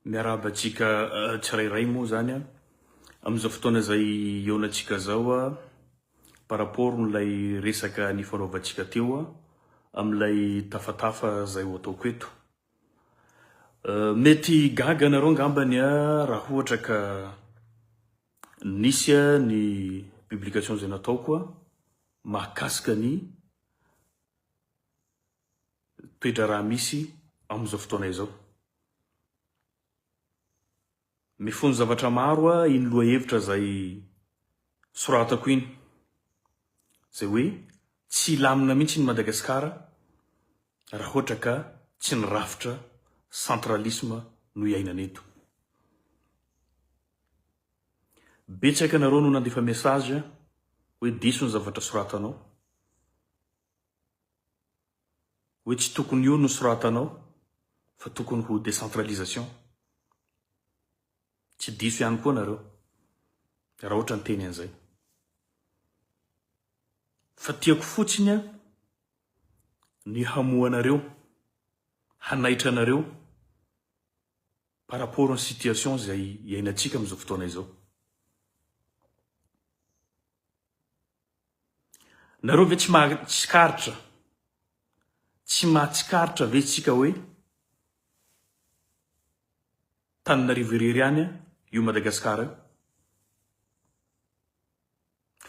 Miarahaba antsika tsirairay moa zany a, amin'izao fotoana izay iaonantsika zao a, par rapport n'ilay resaka nifanaovantsika teo a, amin'ilay tafatafa izay ho ataoko eto. Mety gaga anareo angambany a, raha ohatra ka nisy a ny publication izay nataoko a, mahakasika ny toe-draharaha misy amin'izao fotoana izao. Mifono zavatra maro aho iny lohahevitra izay soratako iny, izay hoe tsy hilamina mihitsy iny Madagasikara raha ohatra ka tsy ny rafitra centralisme no iainana eto. Betsaka ianareo no nandefa message hoe diso ny zavatra soratanao. Hoe tsy tokony io no soratanao fa tokony ho décentralisation. Tsy diso ihany koa nareo raha ohatra niteny an'izay. Fa tiako fotsiny an ny hamohanareo, hanaitra anareo par rapport ny situation izay iainantsika amin'izao fotoana izao. Nareo ve tsy mahatsikaritra, tsy mahatsikaritra ve tsika hoe Tananarivo irery ihany io Madagascar io?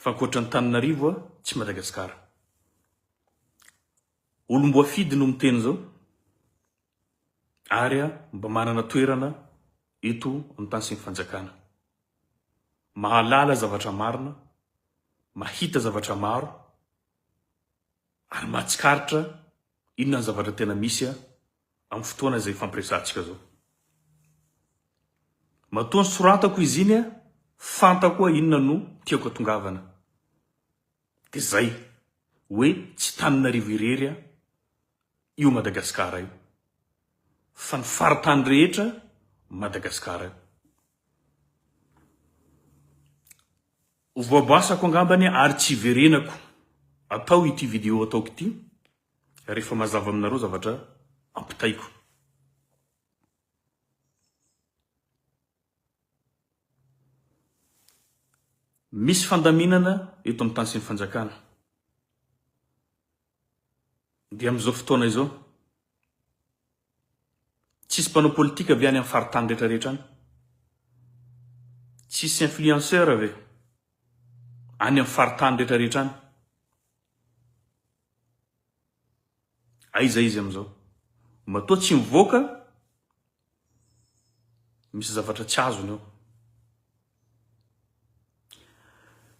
Fa ankoatra ny Tananarivo tsy Madagascar. Olomboafidy no miteny zao ary mba manana toerana eto amin'ny tany sy ny fanjakana. mahalala zavatra marina, mahita zavatra maro, ary mahatsikaritra inona ny zavatra tena misy amin'ny fotoana izay ifampiresahantsika izao. Matoa nisoratako izy iny, fantako hoe inona no tiako atongavana. Dia izay, hoe tsy Taninarivo irery io Madagasikara io, fa ny faritany rehetra Madagasikara io. Ho voabasako angambany ary tsy hiverenako atao ity vidéo ataoko ity rehefa mazava aminareo zavatra ampitaiko. Misy fandaminana eto amin'ny tany sy ny fanjakana. Dia amin'izao fotoana izao. Tsisy mpanao politika ve any am faritany rehetra rehetra any? Tsisy influenceur ve any am faritany rehetra rehetra any? Aiza izy amizao? Matoa tsy mivoaka, misy zavatra tsy azony ao.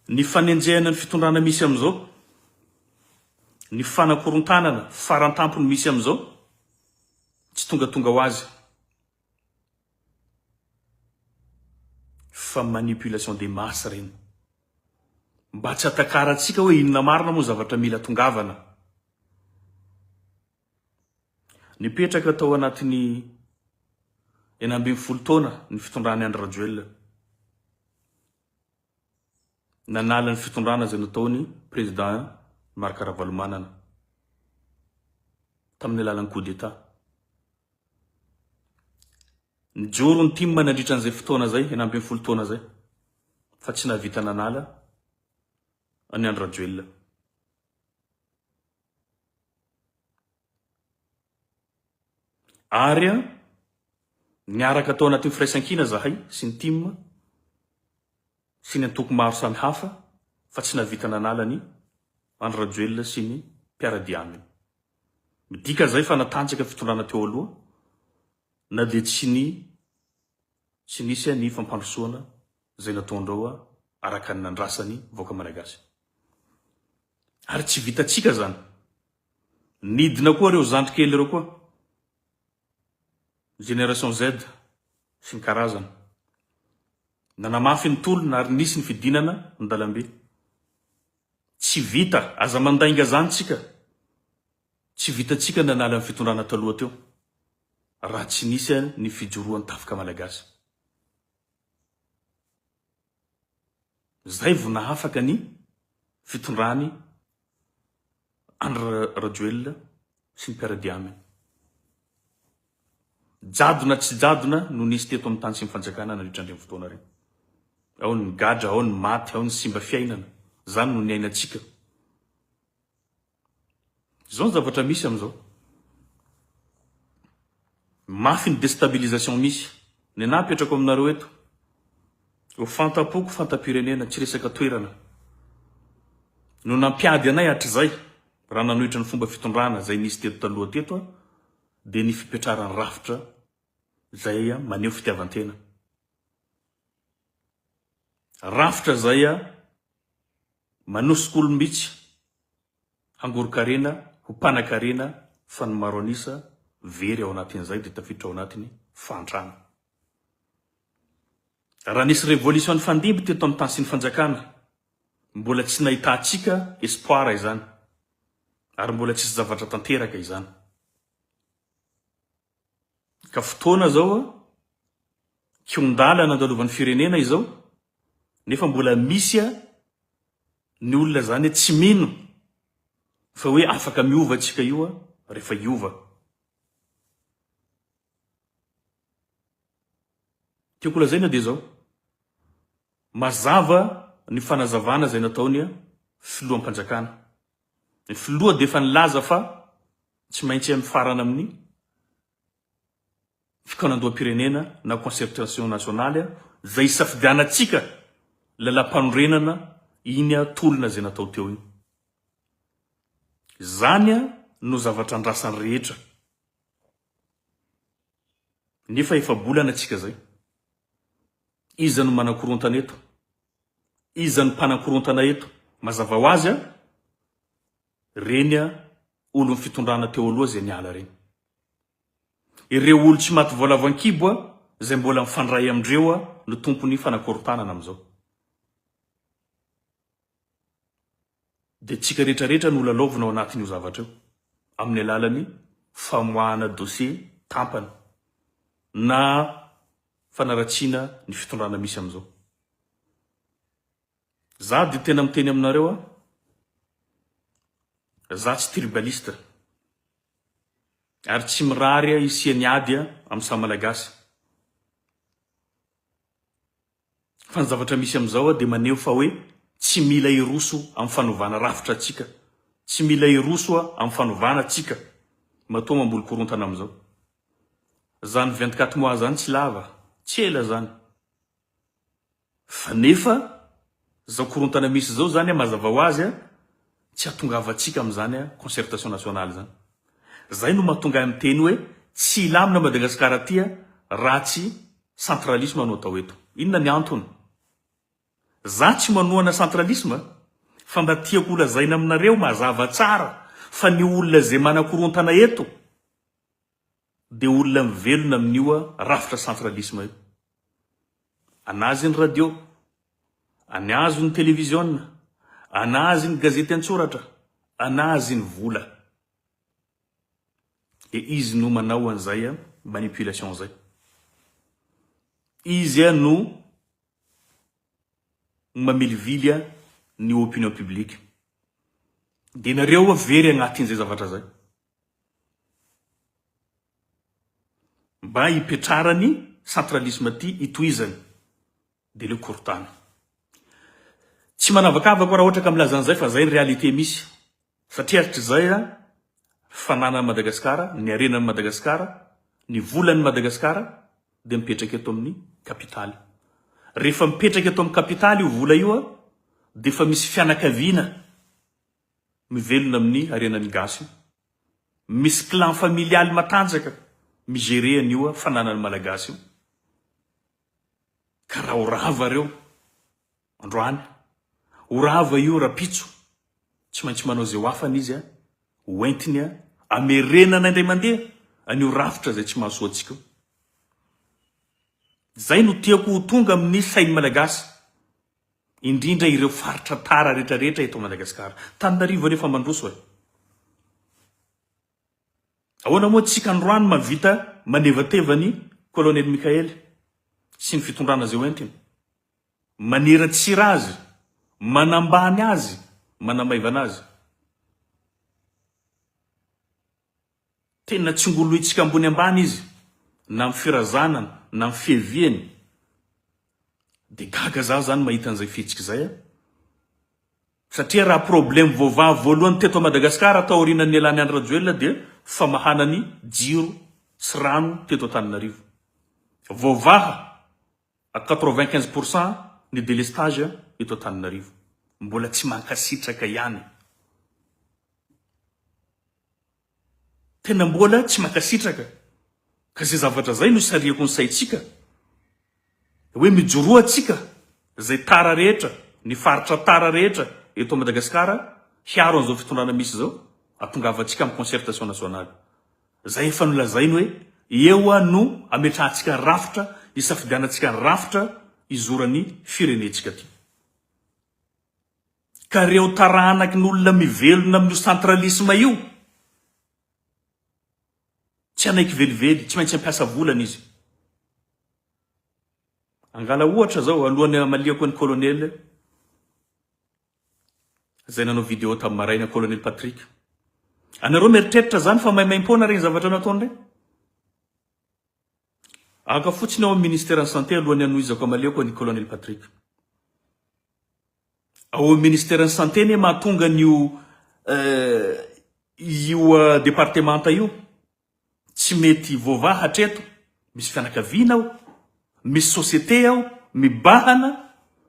Ny fanenjehana ny fitondrana misy amin'izao, ny fanakorontanana farantampony misy amin'izao, tsy tongatonga ho azy fa manipulation des masses ireny. Mba tsy hatakarantsika hoe inona marina moa zavatra mila tongavana. Nipetraka tao anatin'ny enina ambin'ny folo taona ny fitondran'i Andry Rajoelina. Nanala ny fitondrana izay nataony Président Marc Ravalomanana tamin'ny alalan'ny coup d'état. Nijoro ny tim nandritra an'izay fotoana izay, enina ambin'ny folo taona izay, fa tsy nahavita nanala an'i Andry Rajoelina. Ary an, niaraka tao anatin'ny firaisankina zahay sy ny tim sy ny antoko maro samy hafa fa tsy nahavita nanala ny Andry Rajoelina sy ny mpiara-dia aminy. Midika izay fa natanjaka fitondrana teo aloha na dia tsy ny tsy nisy ny fampandrosoana izay nataondreo araka ny nandrasany vahoaka Malagasy. Ary tsy vitantsika zany. Nidina koa reo zandry kely reo koa. Génération Z sy ny karazany. Nanamafy ny tolona ary nisy ny fidinana ny dalambe. Tsy vita, aza mandainga zany tsika. Tsy vitantsika ny nanala ny fitondrana taloha teo. Raha tsy nisy ny fijoroan tafika malagasy. Zay vo nahafaka ny fitondrany Andry Rajoelina sy ny mpiara-dia aminy. Jadona tsy jadona no nisy teto amin'ny tany sy ny fanjakana nandritra an'ireny fotoana ireny. Ao ny gadra, ao ny maty, ao ny simba fiainana. Zany no niainantsika. Zao ny zavatra misy amizao. Mafy ny destabilisation misy. Nenah apetrako aminareo eto. Ho fantampoko fantampirenena, tsy resaka toerana. No nampiady anay hatrizay raha nanohitra ny fomba fitondrana izay nisy teto taloha teto aho dia ny fipetraran'ny rafitra izay maneho fitiavantena. Rafitra izay. Manosika olom-bitsy hangoron-karena ho mpanankarena fa ny maro an'isa very ao anatin'izay dia tafiditra ao anatin'ny fahantrana. Raha nisy revolution nifandimby teto amin'ny tany sy ny fanjakana, mbola tsy nahitantsika espoir izany ary mbola tsisy zavatra tanteraka izany. Ka fotoana zao a, kiondala nandalovan'ny firenena izao, nefa mbola misy a ny olona zany a tsy mino fa hoe afaka miova tsika io a refa hiova. Tiako lazaina dia zao, mazava ny fanazavana zay nataony a filoham-panjakana Ny filoha dia efa nilaza fa tsy maintsy mifarana amin'ny fikaonandoham-pirenena na concertation nationale izay isafidianantsika lalam-panorenana iny tolona izay natao teo iny. Izany no zavatra andrasan'ny rehetra. Nefa efa-bolana isika izay. Iza no manakorontana eto? Iza no mpanakorontana eto? Mazava ho azy a! Reny a olon'ny fitondrana teo aloha izay niala reny. Ireo olo tsy maty voalavo ankibo a izay mbola mifandray amindreo a no tompon'ny fanakorontanana amin'izao. dia antsika rehetra rehetra no lalaovina ao anatin'io zavatra io amin'ny alalan'ny famoahana dosie tampany na fanaratsiana ny fitondrana misy amin'izao. Za dia tena miteny aminareo a, za tsy tribaliste ary tsy mirary hisian'ny ady amin'ny samy Malagasy. Fa ny zavatra misy amin'izao dia maneho fa hoe tsy mila hiroso amin'ny fanovana rafitra tsika. Tsy mila hiroso amin'ny fanovana tsika matoa mamboly korontana amin'izao. Zany vingt-quatre mois zany tsy lava, tsy ela zany. Fa nefa zao korontana misy zao zany mazava ho azy Tsy hatongavantsika amin'izany an concertation nationale izany. Izay no mahatonga ahy miteny hoe tsy hilamina Madagascar aty an raha tsy centralisme no atao eto. Inona ny antony? Za tsy manohana centralisme fa mba tiako ho lazaina aminareo mazava tsara fa ny olona izay manakorontana eto, Dia olona mivelona amin'io rafitra centralisme io. Anazy ny radio, anazy ny televiziona, anazy ny gazety an-tsoratra, anazy ny vola. Dia izy no manao an'izay manipulation izay. Izy no mamilivily ny opinion publique. Dia nareo very agnatin'izay zavatra izay. mba hipetrarany centralisme ity hitohizany de le korontana tsy manavakavako raha ohatra ka milaza an'izay fa zay ny réalité misy satria hatrizay a fananan'i Madagasikara ny harenan'i Madagasikara ny volan'i Madagasikara de mipetraka eto amin'ny kapitaly rehefa mipetraka eto amin'ny kapitaly io vola io a de efa misy fianakaviana mivelona amin'ny harenan'ny gasy, misy clan familialy matanjaka mi-gerer an'io fananan'ny malagasy io, ka raha ho rava reo androany, ho rava io rapitso, tsy maintsy manao izay ho afany izy ho entiny amerenana indray mandeha an'io rafitra izay tsy mahasoa antsika io. Izay no tiako ho tonga amin'ny sain'ny malagasy. Indrindra ireo faritra tara rehetra rehetra eto Madagasikara. Tananarivo anefa mandroso e! Ahoana moa tsy hikanroany mahavita manevateva ny Kolonely Mickael sy ny fitondrana izay ho entiny? Maneratsira azy, manambany azy, manamaivana azy. Tena tsingolointsika ambony ambany izy na amin'ny firazanany na amin'ny fiheviany. Dia gaga za zany mahita an'izay fihetsika izay a! Satria raha problème voavaha voalohany teto Madagascar taorianan'ny nialany Andry Rajoelina dia famahana ny jiro sy rano teto Antananarivo. Voavaha. à quatre-vingt-quinze pour cent ny délestage eto Antananarivo, mbola tsy mankasitraka ihany, tena mbola tsy mankasitraka, ka izay zavatra izay no sariako ny saintsika hoe mijoroa antsika izay tara rehetra, ny faritra tara rehetra eto Madagasikara hiaro an'izao fitondrana misy izao, hatongavantsika amin'ny concertation nationale. Izay efa nolazainy hoe eo no ametrahantsika rafitra isafidianantsika ny rafitra hizoran'ny firenentsika ty. Ka reo tarahanaky ny olona mivelona amin'io centralisme io tsy hanaiky velively, tsy maintsy hampiasa volana izy. Angala ohatra zao alohan'ny hamaliako an'i Colonel, Zay nanao vidéo tam maraina colonel Patrick. Anareo mieritreritra zany fa maimaimpoana reny zavatra nataony reny? Aka fotsiny ao am ministère ny santé alohan'ny hanohizako amaleoko an'i colonel Patrick. Ao am ministère ny santé anie mahatonga an'io io departemanta io. Tsy mety hivoavaha hatreto, misy fianakaviana aho, misy société aho mibahana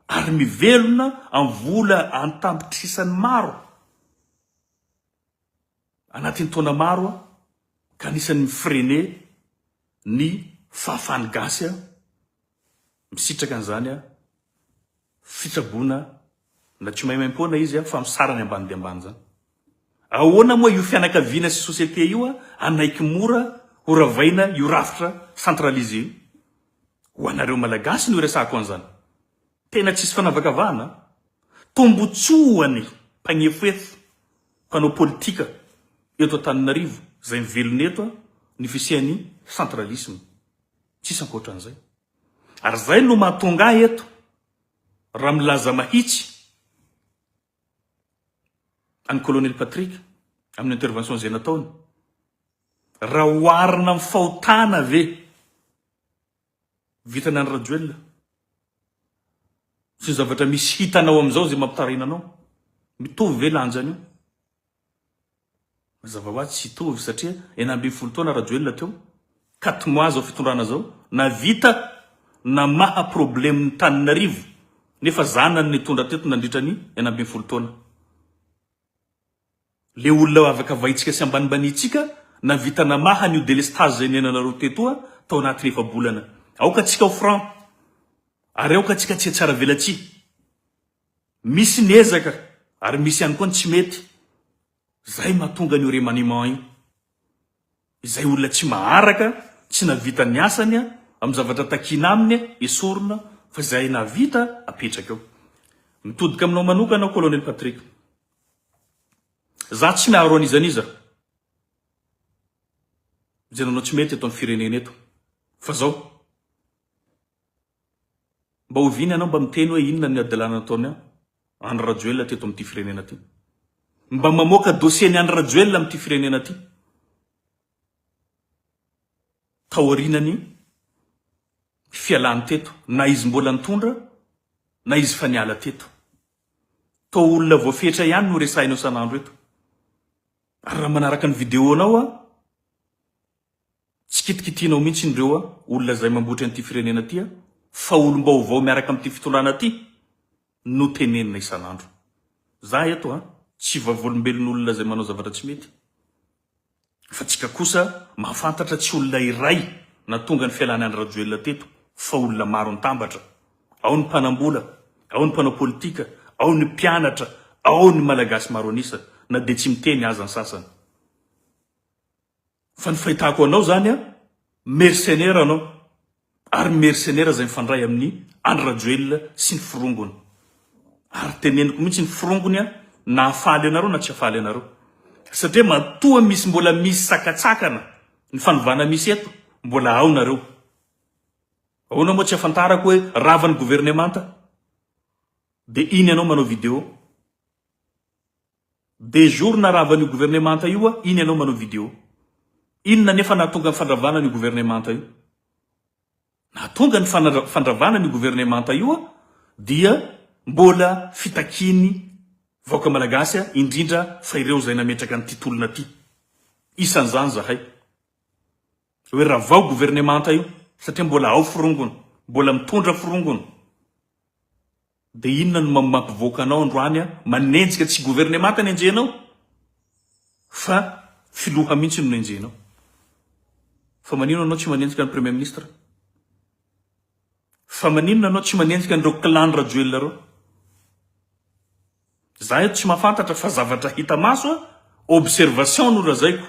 ary mivelona amin'ny vola an-tapitrisany maro. Anatin'ny taona maro aho ka anisan'ny mi-freiner ny fahafahan'ny gasy aho, misitraka an'izany aho. fitsaboana na tsy maimaimpoana izy fa misara ny ambany dia ambany izany. Ahoana moa io fianakaviana sy société io hanaiky mora ho ravaina io rafitra centralisé io? Ho anareo Malagasy no iresahako an'izany. Tena tsisy fanavakavahana an! Tombotsoa ho an'ny mpagnefoefo, mpanao politika eto Antananarivo izay mivelona eto ny fisian'ny centralisme. Tsisy ankoatran'izay. Ary izay no mahatonga ahy eto raha milaza mahitsy an'i Colonel Patrick amin'ny intervention izay nataony. Raha oharina amin'ny fahotana ve vitany an'i Rajoelina sy ny zavatra misy hitanao amin'izao izay mampitarina anao? Mitovy ve lanjany io? Mazava ho azy tsy hitovy satria enina ambin'ny folo taona Rajoelina teo, quatre mois zao fitondrana zao, navita namaha problème ny taninarivo nefa zanany nitondra teto nandritra ny enina ambin'ny folo taona. Le olona avakavaintsika sy ambanimbaniantsika navita namaha an'io délestage zay niainanareo tetoa tao anatin'ny efa bolana. Aoka tsika ho franc ary aoka tsika tsy hetsara velatsihy. Misy ny ezaka ary misy ihany koa ny tsy mety. Izay mahatonga an'io remaniement io. Izay olona tsy maharaka, tsy nahavita ny asany amin'ny zavatra takiana aminy esorina fa izay nahavita apetraka eo. Mitodika aminao manokana aho Colonel Patrick. Za tsy miaro an'iza n'iza. Izay nanao tsy mety eto amin'ny firenena eto. Fa zao. Mba oviana ianao mba miteny hoe inona ny hadalana nataony Andry Rajoelina teto amin'ity firenena ity? Mba mamoaka dossier ny Andry Rajoelina amin'ity firenena ity taorianany fialany teto na izy mbola nitondra na izy fa niala teto. Toa olona voafetra ihany no resahinao san'andro eto. Ary raha manaraka ny vidéo-nao aho, Tsy kitikitianao mihitsy ireo olona izay mambotry an'ity firenena ity fa olom-baovao miaraka amin'ity fitondrana ity no tenenina isan'andro. Za eto tsy vavolombelon'olona izay manao zavatra tsy mety fa tsika kosa mahafantatra tsy olona iray natonga ny fialany Andry Rajoelina teto fa olona maro nitambatra. Ao ny mpanambola, ao ny mpanao politika, ao ny mpianatra, ao ny malagasy maro an'isa na dia tsy miteny aza ny sasany. Fa ny fahitako anao zany an, mercenaire anao, ary mercenaire zay mifandray amin'ny Andry Rajoelina sy ny forongony. Ary teneniko mihitsy ny forongony an, na hafaly anareo na tsy hafaly anareo. Satria matoa misy mbola misy sakatsakana ny fanovana misy eto, mbola ao nareo. Ahoana moa tsy afantarako hoe rava ny governemanta? Dia iny anao manao video. Deux jours naravan'io gouvernemanta io a, iny ianao manao video. Inona anefa nahatonga ny fandravana an'io gouvernemanta io? Nahatonga ny fandravana an'io gouvernemanta io a, dia mbola fitakian'ny vahoaka malagasy a, indrindra fa ireo izay nametraka an'ity tolona ity. Isan'izany zahay. Hoe ravao gouvernemanta io, satria mbola ao forongony, mbola mitondra forongony. Dia inona no mampivoaka anao androany an? Manenjika tsy governemanta no enjehinao? Fa filoha mihintsy no enjehinao? Fa maninona anao tsy manenjika ny premier ministre? Fa maninona anao tsy manenjika an'ireo clan Rajoelina ireo? Za eto tsy mahafantatra fa zavatra hita maso an, observation no lazaiko.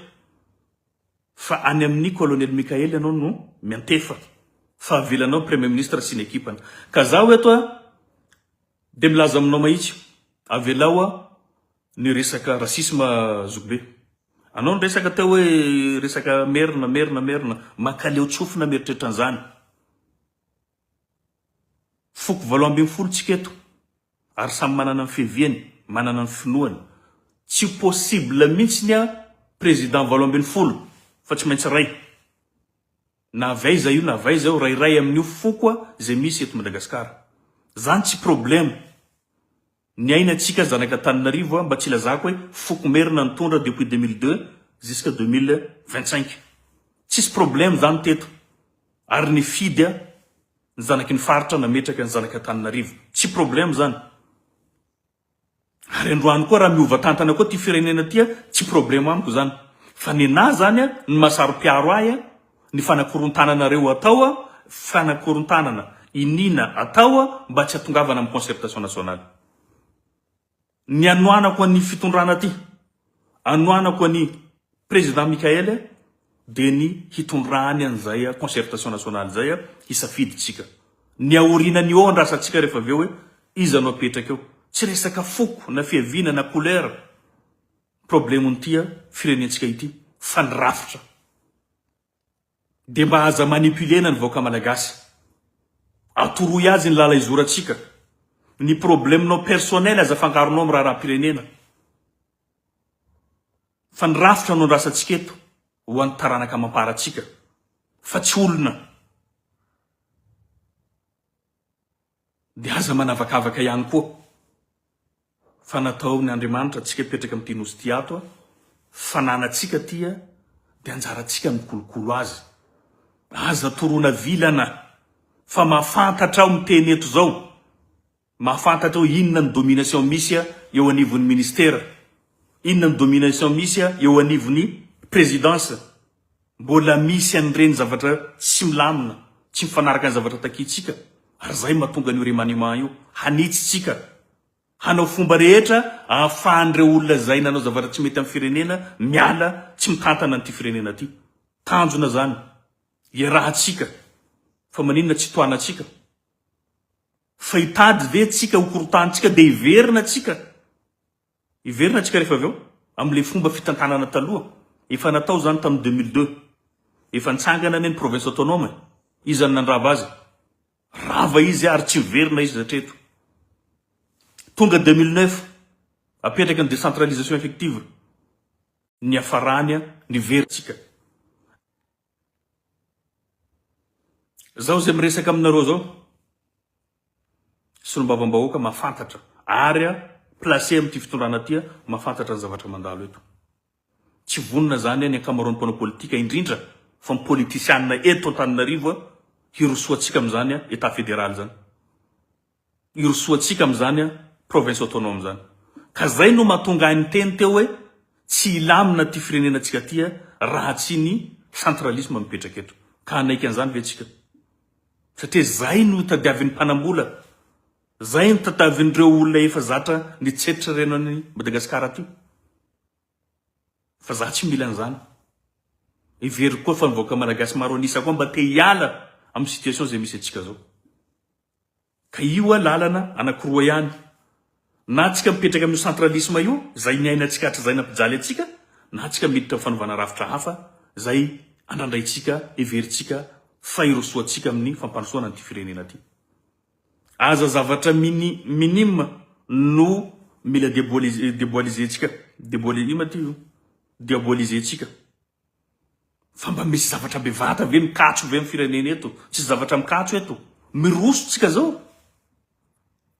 Fa any amin'i Colonel Mickael ianao no miantefa fa avelanao Premier Ministre sy ny ekipany. Ka zaho eto a dia milaza aminao mahitsy, avelao a ny resaka racisme zokibe. Anao niresaka teo hoe resaka merina, merina, merina, makaleo tsofina mieritreritra an'izany. Foko valo ambin'ny folo tsika eto ary samy manana ny fiaviany, manana ny finoany. Tsy possible mintsy ny an président valo ambin'ny folo fa tsy maintsy ray. Na avy aiza io na avy aiza io ray ray amin'io foko izay misy eto Madagascar. Zany tsy problème. Ny aina antsika zanaka Tananarivo a mba tsy ilazako hoe foko merina nitondra depuis deux mille deux jusqu'à deux mille vingt cinq. Tsisy problème zany teto ary nifidy a ny zanaky ny faritra nametraka ny zanaka Tananarivo. Tsy problème zany. Ary androany koa raha miova tantana koa ty firenena ty a tsy problème amiko zany. Fa nenah zany a ny maha saro-piaro ahy a. Ny fanakorontananareo atao fanakorontanana iniana atao mba tsy atongavana amin'ny concertation nationale. Ny anoanako an'ny fitondrana aty, anoanako an'i Président Mickaël dia ny hitondrany an'izay concertation nationale izay hisafidy tsika. Ny aoriana ny eo andrasantsika rehefa avy eo hoe iza no apetraka eo. Tsy resaka foko na fiaviana na couleur. Problemon'ity a firenentsika ity fa ny rafitra de mba aza manipulena ny vahoaka malagasy. Atoroy azy ny lala izorantsika. Ny probleminao personnel aza afangaronao amin'ny raharaham-pirenena. Fa ny rafitra no andrasantsika eto ho an'ny taranaka amam-paratsika fa tsy olona. Dia aza manavakavaka ihany koa fa nataon' Andriamanitra antsika hipetraka amin' ity nosy ity ato fa nanantsika aty dia anjarantsika ny mikolokolo azy. Aza toroana vilana fa mahafantatra aho miteny eto izao, mahafantatra aho inona ny domination misy eo anivon' ny ministera, inona ny domination misy eo anivon' ny prezidansa. Mbola misy an'ireny zavatra tsy milamina, tsy mifanaraka ny zavatra takiantsika, ary izay mahatonga an'io remaniement io. Hanitsy tsika, hanao fomba rehetra ahafahan'ireo olona izay nanao zavatra tsy mety amin'ny firenena miala, tsy mitantana an'ity firenena ity. Tanjona izany, iarahantsika, fa maninona tsy tohanantsika? Fa hitady ve tsika hokorotahantsika dia hiverina tsika? Hiverina antsika rehefa avy eo amin'ilay fomba fitantanana taloha, efa natao izany tamin'ny deux mille deux, efa nitsangana anie ny province autonome e! Iza no nandrava azy? Rava izy ary tsy hiverina izy hatreto. Tonga deux mille neuf, apetraka ny décentralisation effective, niafarany an, niverina antsika. Zao izay miresaka aminareo zao solombavambahoaka mafantatra ary a placé amin'ity fitondrana ty mafantatra ny zavatra mandalo eto. Tsy vonona zany ny ankamaroan'ny mpanao politika indrindra fa ny politisianina eto Antananarivo hirosoantsika amin'izany état fédéral zany. Irosoantsika amin'izany province autonome izany. Ka izay no mahatonga ahy niteny teo hoe tsy hilamina ity firenenantsika ity raha tsy ny centralisme mipetraka eto. Ka hanaiky an'izany ve tsika? Satria izay no tadiavin'ny mpanambola, izay no tatavin'ireo olona efa zatra nitsetra reno an'i Madagascar aty. Fa za tsy mila an'izany. Heveriko koa fa ny vahoaka malagasy maro an'isa koa mba te hiala amin'ny situation izay misy antsika izao. Ka io a lalana anakiroa ihany, na antsika mipetraka amin'io centralisme io zay niainantsika hatrizay nampijaly antsika, na antsika miditra amin'ny fanovana rafitra hafa zay andrandraintsika, heverintsika fa irosoantsika amin'ny fampandrosoana an'ity firenena ty. Aza zavatra mini minime no mila deboalize deboalizentsika deboali ino ma ty io? diabolizentsika. Fa mba misy zavatra bevata ve mikatso ve am firenena eto? Tsisy zavatra mikatso eto. Miroso tsika zao.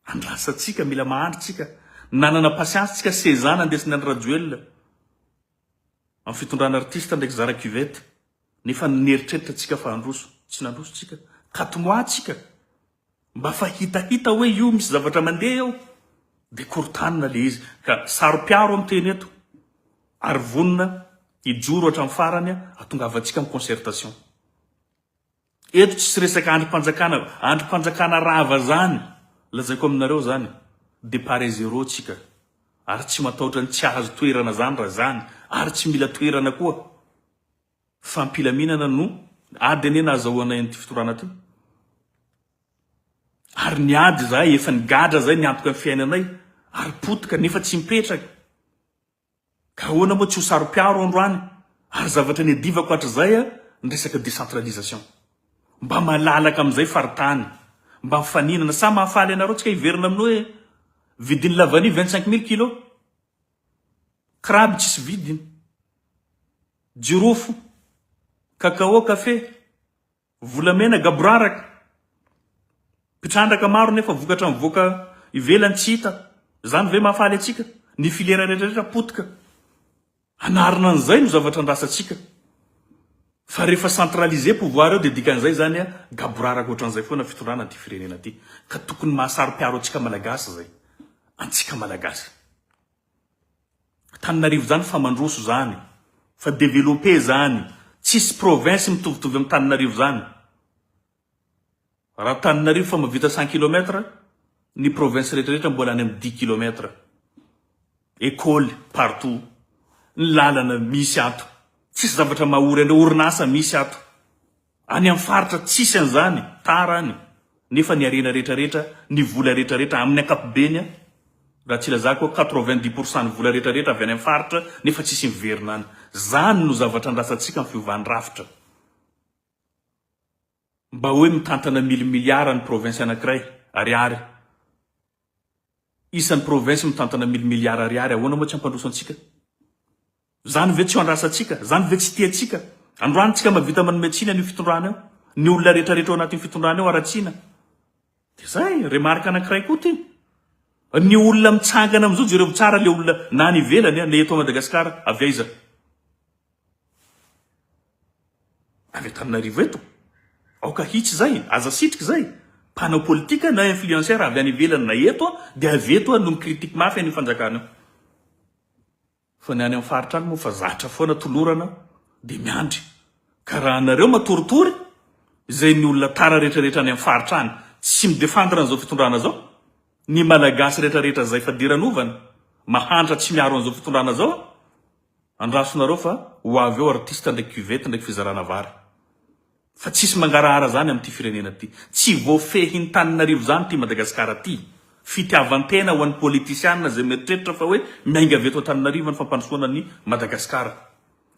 Andrasa tsika, mila mahandry tsika. Nanana patience tsika seza nandesiny an Rajoelina am fitondrana artiste ndraiky zara cuvette. Nefa neritreritra tsika fa handroso. Tsy nandroso tsika. Kati mois tsika. Mba fa hitahita hoe io misy zavatra mandeha eo dia korontanina ilay izy ka saro-piaro ny teny eto ary vonona hijoro hatramin'ny farany hahatongavantsika amin'ny concertation. Eto tsisy resaka andrim-panjakana, andrim-panjakana rava izany, lazaiko aminareo izany, départ à zéro tsika ary tsy matahotra ny tsy hahazo toerana izany raha izany ary tsy mila toerana koa. fampilaminana no ady anie nahazahoanay an'ity fitorana ty. Ary niady izahay, efa nigadra izay niantoka ny fiainanay, ary potika, nefa tsy mipetraka. Ka ahoana moa tsy ho saro-piaro androany? Ary zavatra niadivako hatrizay an, ny resaka décentralisation. Mba malalaka amin'izay faritany, mba mifaninana. Sa mahafaly anareo tsika hiverina amin'ny hoe vidin'ny lavanio vingt-cinq mille kilo? Crabe tsisy vidiny, jirofo, cacao, kafe, volamena, gaboraraka, mpitrandraka maro nefa vokatra mivoaka ivelany tsy hita, izany ve mahafaly antsika? Ny filiera rehetra rehetra potika hanarina an'izay no zavatra andrasantsika. Fa rehefa centraliser pouvoir eo dia dikan'izay izany a gaboraraka ohatran'izay foana fitondrana an'ity firenena ity ka tokony mahasaro-piaro antsika malagasy izay. Antsika malagasy. Antananarivo izany fa mandroso izany, fa developper izany, tsisy province mitovitovy amin'Antananarivo izany. Raha Antananarivo efa mavita cent kilomètre, ny province rehetra rehetra mbola any am dix kilomètre. Ecole partout, ny lalana misy ato, tsisy zavatra mahory anreo, orinasa misy ato. Any am faritra tsisy anzany, tara any, nefa ny harena rehetra rehetra, ny vola rehetra rehetra amin ankapobeny a, raha tsy ilazako hoe quatre vingt dix pour cent ny vola rehetra rehetra avy any am faritra nefa tsisy miverina any. Zany no zavatra andrasantsika am fiovan drafitra. Mba hoe mitantana milimiliara ny province anankiray Ariary isan'ny province mitantana milimiliara Ariary ahoana moa tsy hampandroso antsika? Zany ve tsy andrasantsika? Zany ve tsy tiantsika? Androany tsika mavita manome tsiny an'io fitondrana io ny olona rehetra rehetra ao anatin'io fitondrana io aratsina de zay remarque anankiray koa ty ny olona mitsangana amizao jerevo tsara le olona na any ivelany na eto Madagascar avy aiza Avy Antananarivo eto. Aoka hitsy izay, aza asitrika izay. Mpanao politika na influenceur avy any ivelany na eto dia avy eto no mi-critique mafy an'io fanjakana io. Fa ny any amin'ny faritra any moa fa zatra foana tolorana dia miandry. Ka raha anareo matoritory izay ny olona tara retraretra any amin'ny faritra any tsy mi-defendre an'izao fitondrana izao, ny Malagasy retraretra izay fadiran'ovana mahantra tsy miaro an'izao fitondrana izao, Andrasonareo fa ho avy eo artiste ndraiky cuvette ndraiky fizarana vary. Fa tsisy mangarahara zany amty firenena ty. Tsy voafehin taninarivo zany ty Madagascar ty. Fitiavantena ho any politisiana zay mieritreritra fa hoe miainga avy eto Antananarivo ny fampandrosoana ny Madagascar.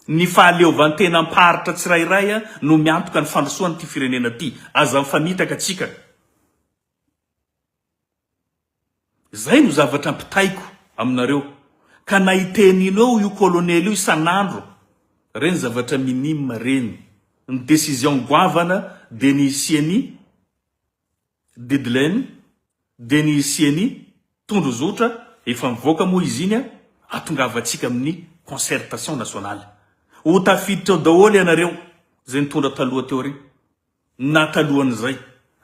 Ny fahaleovantenam paritra tsirairay no miantoka ny fandrosoan ty firenena ty. Aza mifanitaka tsika. Izay no zavatra ampitaiko aminareo ka na itenino eo io colonel io isan'andro reny zavatra minime reny ny decision goavana dia ny hisiany deadline dia ny hisiany tondrozotra efa mivoaka moa izy iny atongavantsika amin'ny concertation nationale ho tafiditra ao daholo ianareo izay nitondra taloha teo ry na talohan'izay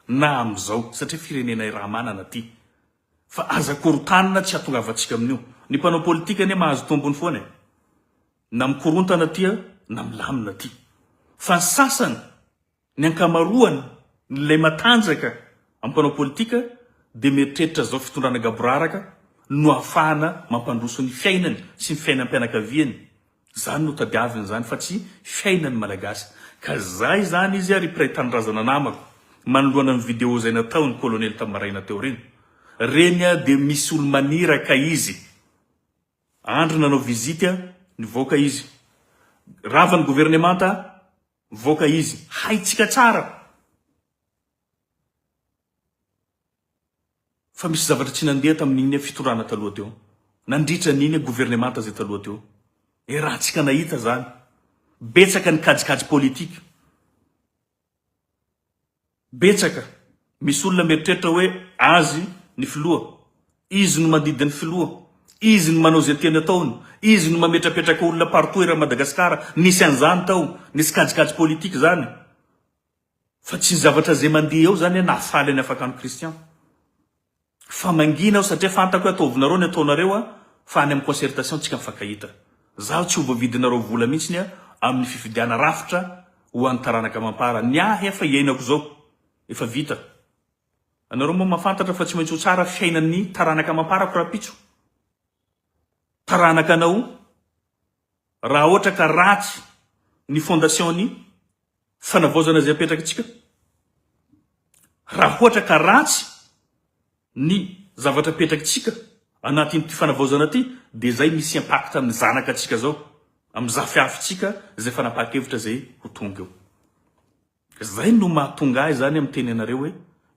na amin'izao satria firenenay raha manana ty fa aza korotanina tsy atongavantsika amin'io, ny mpanao politika anie mahazo tombony foana e, na mikorontana ty na milamina ty fa ny sasany ny ankamaroany n'ilay matanjaka amin'ny mpanao politika dia mieritreritra zao fitondrana gaboraraka no ahafahana mampandroso ny fiainany sy ny fiainam-pianakaviany Zany no tadiaviny zany fa tsy fiainany malagasy ka zay zany izy ary mpiray tanindrazana namako manoloana ny video zay nataony kolonely tam maraina teo reny reny a de misy olo maniraka izy andry nanao visite a nivoaka izy rava ny governemanta a nivoaka izy haitsika tsara fa misy zavatra tsy nandeha tamin'iny fitondrana taloha teo, nandritra an'iny governemanta izay taloha teo. Dia raha antsika nahita izany, betsaka ny kajikajy politika. Betsaka. Misy olona mieritreritra hoe azy ny filoha, izy no mandidy ny filoha, izy no manao izay tiany ataony, izy no mametrapetraka olona partout eran'i Madagasikara. Nisy an'izany tao, nisy kajikajy politika izany. Fa tsy ny zavatra zay mandeha eo zany an nahafaly an'i Afakano Christian fa mangina aho satria fantako hoe ataovinareo ny ataonareo an fa any amin'ny concertation tsika mifankahita. Zaho tsy ho voavidinareo vola mihitsiny an amin'ny fifidiana rafitra ho an'ny taranaka mampara. Ny ahy an fa iainako izao efa vita. Anareo moa mafantatra fa tsy maintsy ho tsara fiainan'ny taranaka amamparako rahampitso. Taranaka anao Raha ohatra ka ratsy ny fondation ny fanavaozana izay apetrakitsika, raha ohatra ka ratsy ny zavatra apetrakitsika anatin'ity fanavaozana ity dia izay misy impact amin'ny zanaka antsika zao, amin'ny zafiafitsika izay fanapahan-kevitra izay ho tonga eo. Izay no mahatonga ahy izany miteny anareo hoe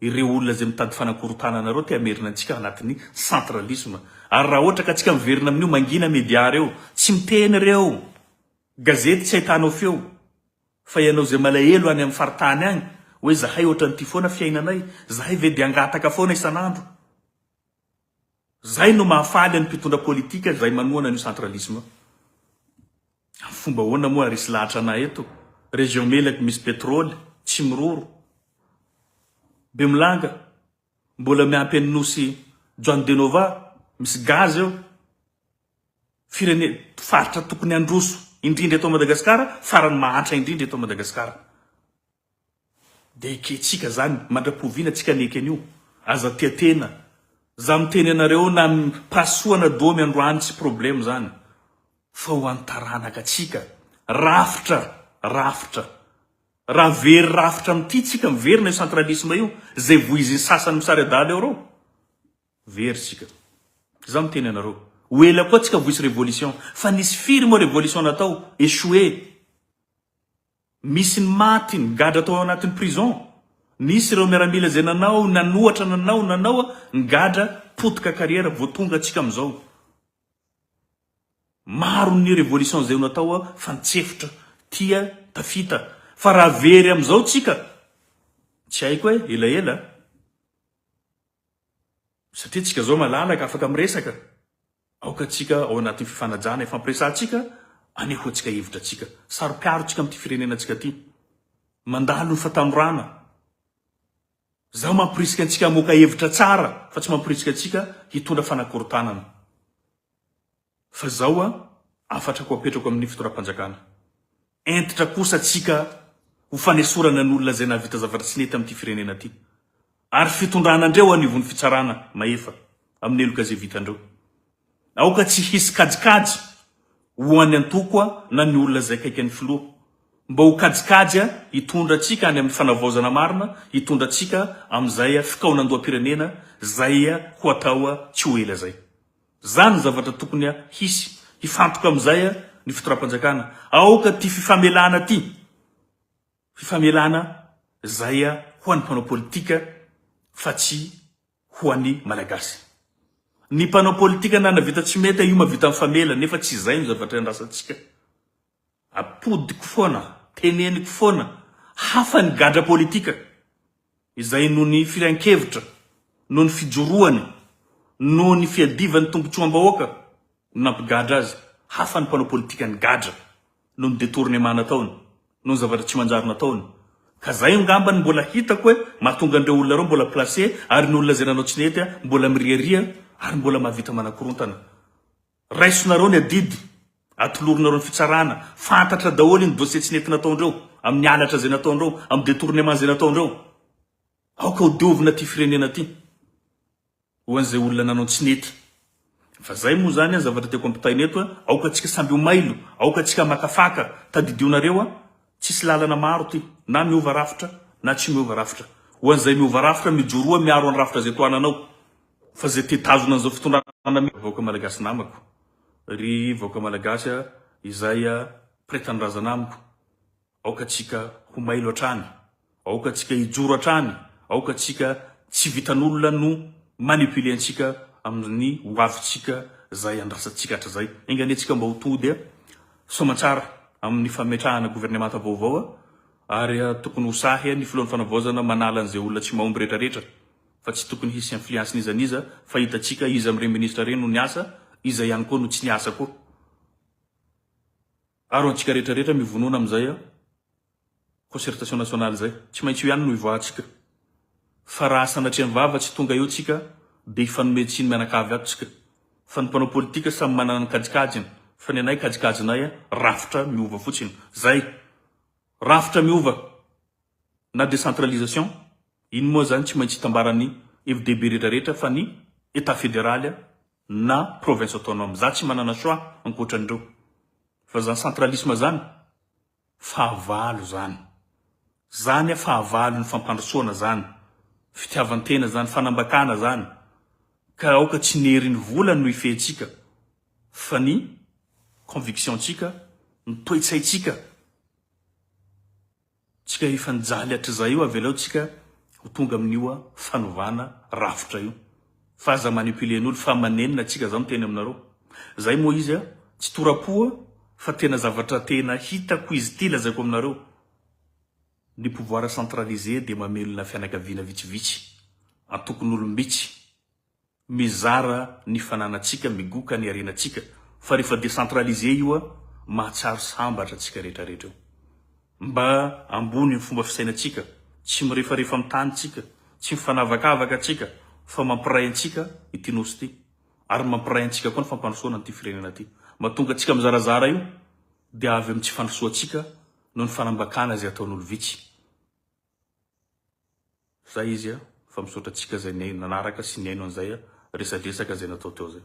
ireo olona izay mitady fanakorotana anareo te hamerina antsika anatin'ny centralisme. Ary raha ohatra ka tsika miverina amin'io mangina media ireo, tsy miteny ireo gazety tsy ahitanao feo fa ianao izay malahelo any amin'ny faritany any hoe zahay ohatran'ity foana fiainanay, zahay ve dia hangataka foana isan'andro? Zay no mahafaly an'ny mpitondra politika izay manohana an'io centralisme io. Amin'ny fomba ahoana moa ary hisy lahatra anà eto? Région Melaky misy pétrole, tsy miroro. Bemolanga, mbola miampy an'i Nosy Juan de Nova, misy gaz eo. Firene-, faritra tokony handroso indrindra eto Madagasikara, farany mahantra indrindra eto Madagasikara. Dia ekentsika zany mandrapoviana tsika ny ekeny io aza tia tena za miteny anareo na ny pasohana domy androany tsy probleme zany fa ho any taranaka tsika rafitra rafitra raha very rafitra amty tsika miverina io centralisme io zay vohiziny sasany misary adala eo reo very tsika za miteny anareo ho ela koa tsika vohisy revolution fa nisy firy moa revolution natao echoue Misy ny maty, ny gadra tao anatin'ny prison, nisy ireo miaramila izay nanao, nanohatra, nanao, nanao, ny gadra potika carrière vao tonga antsika amin'izao. Maro ny revolution izay natao fa nitsefotra, tia, tafita. Fa raha very amin'izao tsika, tsy haiko e, elaela a. Satria tsika izao malalaka, afaka miresaka. Aoka antsika, ao anatin'ny fifanajana ifampiresahantsika, aneho antsika hevitra antsika. Saro-piaro antsika amin'ity firenena antsika ity. Mandalo ny fatanorana. Izaho mampirisika antsika hamoaka hevitra tsara fa tsy mampirisika antsika hitondra fanakorontanana. Fa izao, hafatrako apetrako amin'ny fitondram-panjakana. Hentitra kosa tsika ho fanesorana ny olona izay nahavita zavatra tsy nety amin'ity firenena ity ary fitondrana andreo anivon'ny fitsarana mahefa amin'ny heloka izay vitandreo. Aoka tsy hisy kajikajy ho an'ny antoko na ny olona izay akaiky an'ny filoha mba ho kajikajy hitondra antsika any amin'ny fanavaozana marina hitondra antsika amin'izay fikaonandoham-pirenena izay ho atao tsy ho ela izay. Zany ny zavatra tokony hisy. Hifantoka amin'izay ny fitondram-panjakana. Aoka ty fifamelana ty. Fifamelana izay ho an'ny mpanao politika fa tsy ho an'ny Malagasy. Ny mpanao politika nanavita tsy mety io mavita mifamela nefa tsy izay no zavatra iandrasantsika. Atodiko foana, teneniko foana, hafa ny gadra politika izay noho ny firehan-kevitra, noho ny fijoroany, noho ny fiadivan'ny tombotsoam-bahoaka no nampigadra azy, hafa ny mpanao politika nigadra noho ny detournement nataony, noho ny zavatra tsy manjary nataony. Ka zay angamba no mbola hitako hoe mahatonga an'ireo olona ireo mbola placé ary ny olona izay nanao tsy nety mbola miriaria ary mbola mahavita manakorontana. Raisonareo ny adidy atolorinareo ny fitsarana, fantatra daholo iny dossier tsy nety nataondreo, amin'ny halatra izay nataondreo, amin'ny detournement izay nataondreo. Aoka ho diovina ity firenena ity ho an'izay olona nanao tsy nety. Fa zay moa zany an zavatra tiako ampitaina eto an, aoka tsika samby ho mailo, aoka tsika maka faka, tadidio nareo an, tsisy lalana maro ty, na miova rafitra na tsy miova rafitra. Ho an'izay miova rafitra mijoroa miaro an'i rafitra izay tohananao. Fa izay te hitazona an'izao fitondrana mihitsy vahoaka malagasy namako. Ry vahoaka malagasy a, izay a mpiray tanindrazana amiko, aoka tsika ho mailo hatrany, aoka tsika hijoro hatrany, aoka tsika tsy vitan'olona no manipuler antsika amin'ny ho avintsika izay andrasantsika hatrizay. Enga anie tsika mba ho tody a, soamantsara amin'ny fametrahana governemanta vaovao a, ary a tokony ho sahy a ny filohan'ny fanavaozana manala an'izay olona tsy mahomby rehetra rehetra. fa tsy tokony hisy influence n'iza n'iza fa hitantsika iza amin'ireny ministra ireny no niasa, iza ihany koa no tsy niasa koa. Aro antsika rehetra rehetra mivonona amin'izay concertation nationale izay. Tsy maintsy io ihany no hivoahantsika. Fa raha sanatria mivava tsy tonga eo tsika dia hifanome tsiny mianakavy ato tsika. Fa ny mpanao politika samy manana ny kajikajiny fa ny anay kajikajinay rafitra miova fotsiny. Zay. Rafitra miova. na décentralisation, iny moa zany tsy maintsy hitambaran'ny FDB rehetra rehetra fa ny Etat Federaly na Province Autonome. Za tsy manana choix ankoatran'ireo. Fa zany centralisme zany, fahavalo zany. Zany a fahavalon'ny fampandrosoana zany. Fitiavan-tena zany, fanambakana zany. Ka aoka tsy ny herin'ny vola no hifehintsika fa ny conviction-tsika, ny toetsaintsika. Tsika efa nijaly hatrizay io avelao tsika ho tonga amin'io fanovana rafitra io fa aza manipuler ny olo fa manenina tsika zao miteny aminareo zay moa izy a tsy torapo a fa tena zavatra tena hitako izy ty lazaiko aminareo ny pouvoir centralisé dia mamelona fianakaviana vitsivitsy antokon'olom-bitsy Mizara ny fananantsika, migoka ny harenantsika, fa rehefa décentralisé io a, mahatsiaro sambatra tsika rehetra rehetra eo. Mba ambony ny fomba fisainantsika, tsy mirefarefa amin'ny tany tsika, tsy mifanavakavaka tsika, fa mampiray antsika ity Nosy ity, ary mampiray antsika koa ny fampandrosoana an'ity firenena ity. Mahatonga antsika mizarazara io dia avy amin'ny tsy fandrosoantsika noho ny fanambakana izay ataon'olo vitsy. Zay izy a, fa misaotra antsika zay nanaraka sy nihaino an'izay resadresaka zay natao teo zay.